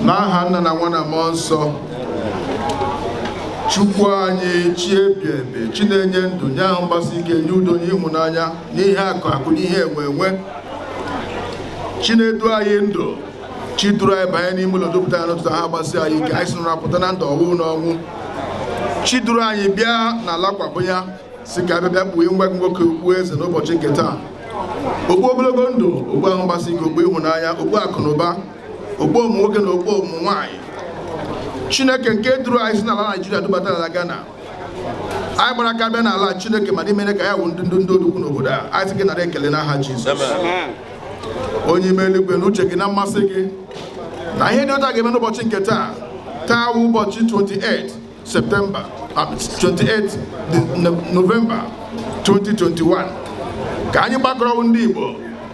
n'aha nna na nwa na mmụọ nsọ chukwu anyị chi ebi ebi chi na-enye ndụ nye ahụ mgbasi ike nye udo nye ịhụnanya n'ihe akụ akụ n'ihe enwe enwe chi na-edu anyị ndụ chi duru anyị banye n'ime ụlọ dupụta anyị n'ụtụtụ ahụ gbasi anyị ike anyị si n'ụra pụta na ndụ ọ wụghị n'ọnwụ chi duru anyị bịa n'ala kwabenya sị ka a bịa bịa kpuo nwa gị nwoke okpu eze n'ụbọchị nke taa okpu ogologo ndụ okpu ahụ mgbasi ike okpu ịhụnanya okpu akụ na ụba okpu ụmụ nwoke na okpu ụmụ nwaanyị chineke nke duru anyị si n'ala naịjirịa dubata n'ala ghana anyị gbara aka bịa n'ala a chineke mana i mere ka anyị wụ ndị ndị ndị odogwu n'obodo a anyị sị gị nara ekele n'aha jizọs onye ime eluigwe na uche gị na mmasị gị na ihe dị otu a ga-eme n'ụbọchị nke taa taa wụ ụbọchị 28 Septemba 28 uh, Novemba 2021 ka anyị gbakọrọ ndị Igbo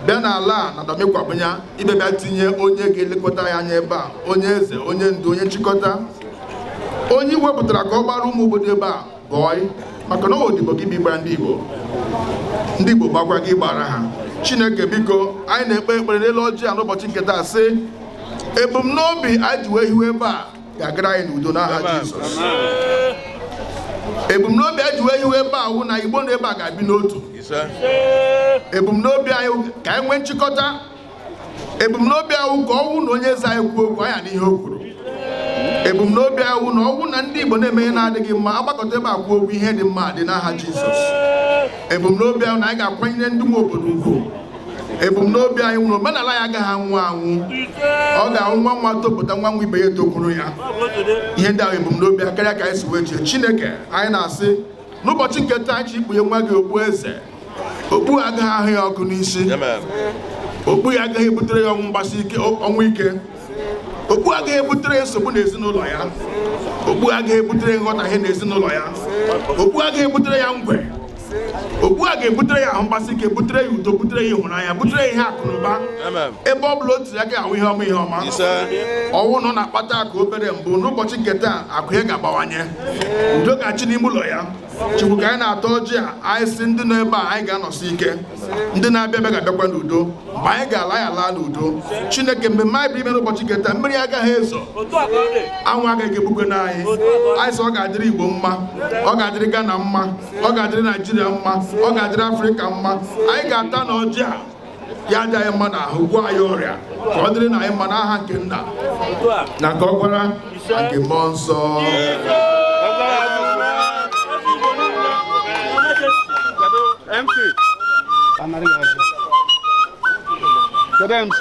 bịa n'ala a na Dome Kwabenya ịbịa bịa tinye onye ga-elekọta anyị anya ebe a onye eze onye ndu onye nchịkọta onye e wepụtara ka ọ gbara ụmụ obodo ebe a bọị maka na odibo ka ị bịa ịgbara ndị Igbo ndị Igbo gbakwara gị ị gbara ha Chineke biko anyị na-ekpe ekpere n'elu ọjị a n'ụbọchị nke taa sị ebumnobi anyị ji wee hiwe ebe a ga-agara anyị n'udo n'aha Jizọs ebumnobi anyị ji wee hiwe ebe a wụ na Igbo nọ ebe a ga-adị n'otu ebumnobi anyị ka anyị nwee nchịkọta ebumnobi anyị wụ ka ọ wụ na onye eze anyị kwuo okwu anyị anụ ihe o kwuru ebumnobi anyị wụ na ọ wụ na ndị Igbo na-eme ihe na-adịghị mma a gbakọta ebe a kwuo okwu ihe dị mma dị n'aha Jizọs ebumnobi anyị wụ na anyị ga-akwanyere ndị nwe obodo ugwu ebumnobi anyị wụ na omenala anyị agaghị anwụ anwụ ọ ga-awụ nwa nwa topụta nwa nwa ibe ya etokwuru ya ihe ndị a wụ ebumnobi anyị karịa ka anyị si wee chee chineke anyị na-asị n'ụbọchị nke taa anyị ji kpunye nwa gị okpu eze okpu a agaghị ahụ ya ọkụ n'isi okpu a agaghị ebutere ya ọnwụ mgbasi ọnwụ ike okpu a agaghị ebutere ya nsogbu n'ezinụlọ ya okpu a agaghị ebutere nghọtahie n'ezinụlọ ya okpu a agaghị ebutere ya ngwe okpu a ga-ebutere ya ahụ mgbasi ike butere ya udo butere ya ịhụnanya butere ya ihe akụ na ụba ebe ọ bụla o tinye aka ọ wụ ihe ọma ihe ọma ọ wụ na ọ na-akpata akụ obere mbụ n'ụbọchị nke taa akụ ya ga-abawanye udo ga-achị n'ime ụlọ ya chukwu ka anyị na-atọ ọjị a anyị sị ndị nọ ebe a anyị ga-anọsi ike ndị na-abịa abịa ga-abịakwa n'udo mgbe anyị ga-ala anyị ala n'udo chineke mgbe anyị bịara ime n'ụbọchị nke taa mmiri agaghị ezo anwụ agaghị egbukwanụ anyị anyị sị ọ ga-adịrị igbo mma ọ ga-adịrị ghana mma ọ ga-adịrị naịjirịa mma ọ ga-adịrị afrịka mma anyị ga-ata n'ọjị a ya dị anyị mma n'ahụ gwọọ anyị ọrịa ka ọ dịrị na anyị mma n'aha nke nna na nke ọkwara na nke mmụọ nsọ MC. Kedu MC?